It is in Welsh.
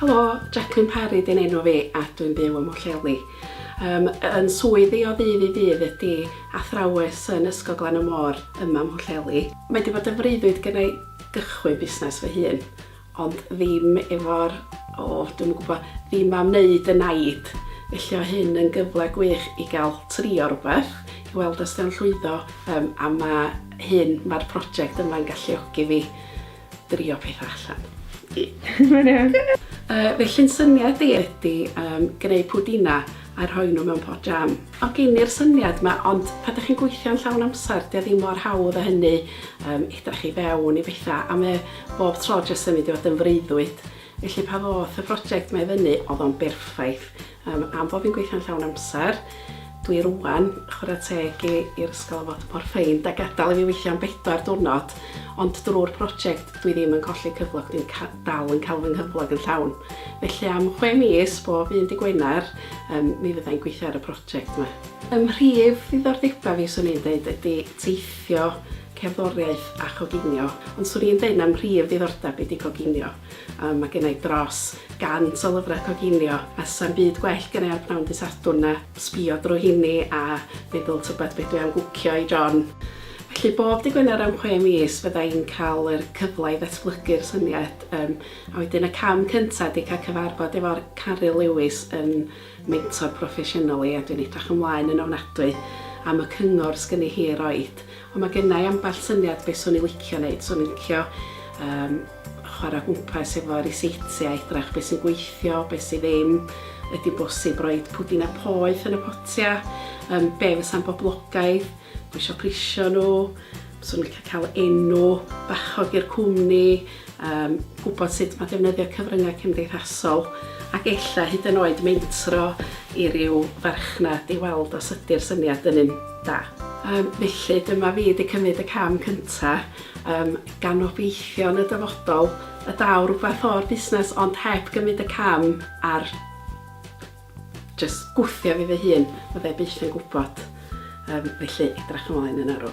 Helo, Jacqueline Parry di'n enw fi a dwi'n byw ym Mhwllheli. Um, yn swydd i o ddydd i ddydd ydy athrawes yn Ysgol Glan y Môr yma ym Mhwllheli. Mae wedi bod yn freuddwyd gen i gychwyn busnes fy hun, ond ddim efo'r, o, dwi'm yn gwybod, ddim am wneud y naid. Felly o hyn yn gyfle gwych i gael trio rhywbeth, Wel, does gan llwyddo, um, a mae hyn, mae'r prosiect yma'n galluogi fi drio pethau allan. Mae'n iawn. Uh, felly'n syniad i ydy um, gwneud pwdina a rhoi nhw mewn pot jam. O gen i'r syniad yma, ond pa ydych chi'n gweithio'n llawn amser, dy ddim mor hawdd a hynny, um, edrach i fewn i bethau, a mae bob tro jyst yn mynd i fod yn freuddwyd. Felly pa ddoth y prosiect mae fyny, oedd o'n berffaith. Yym, am fo fi'n gweithio'n llawn amser, dwi rwan, chwarae teg i i'r ysgol am fod mor ffeind a gadal i fi weithio am bedwar diwrnod, ond drwy'r project dwi ddim yn colli cyflog, dwi'n ca- dal yn cael fy nghyflog yn llawn. Felly am chwe mis, bob un dy Gwener, yym, mi fydda i'n gweithio ar y project 'ma. Ym mhrif ddiddordeba fi, swn i'n deud, ydi teithio, cerddoriaeth a choginio, ond swn i'n deud na mhrif ddiddordeb i di coginio. Yy mae gennai dros 100 o lyfrau coginio a 'sa'm byd gwell gennai ar pnawn Dy Sadwrn na sbio drwy rheini a meddwl tybed be dwi am gwcio i John. Felly bob Dy Gwener am chwe mis fydda i'n cael yr cyfle i ddatblygu'r syniad yym a wedyn y cam cynta ydi cael cyfarfod efo'r Caryl Lewis yn mentor proffesiynol i a dwi'n edrach ymlaen yn ofnadwy am y cyngor sgynni hi i roid. Ond mae gennai ambell syniad be swn i licio neud, swn i'n licio yym chwarae gwmpas efo ryseitiau, edrach beth sy'n gweithio, beth sydd ddim, ydy'n bosib rhoi pwdinau poeth yn y potiau, um, be fysa'n boblogaidd, dwi eisiau prisio nhw, swn i'n cael cael enw bachog i'r cwmni, um, gwybod sut mae defnyddio cyfryngau cymdeithasol, ac ella hyd yn oed mentro i ryw farchnad i weld os ydy'r syniad yn un da. Um, felly dyma fi wedi cymryd y cam cyntaf, Yym, gan obeithio yn y dyfodol y daw rhywbeth o'r busnes ond heb gymryd y cam a'r jyst gwthio fi fy hun, fydda i byth yn gwybod. Yym, felly, edrach ymlaen yn arw.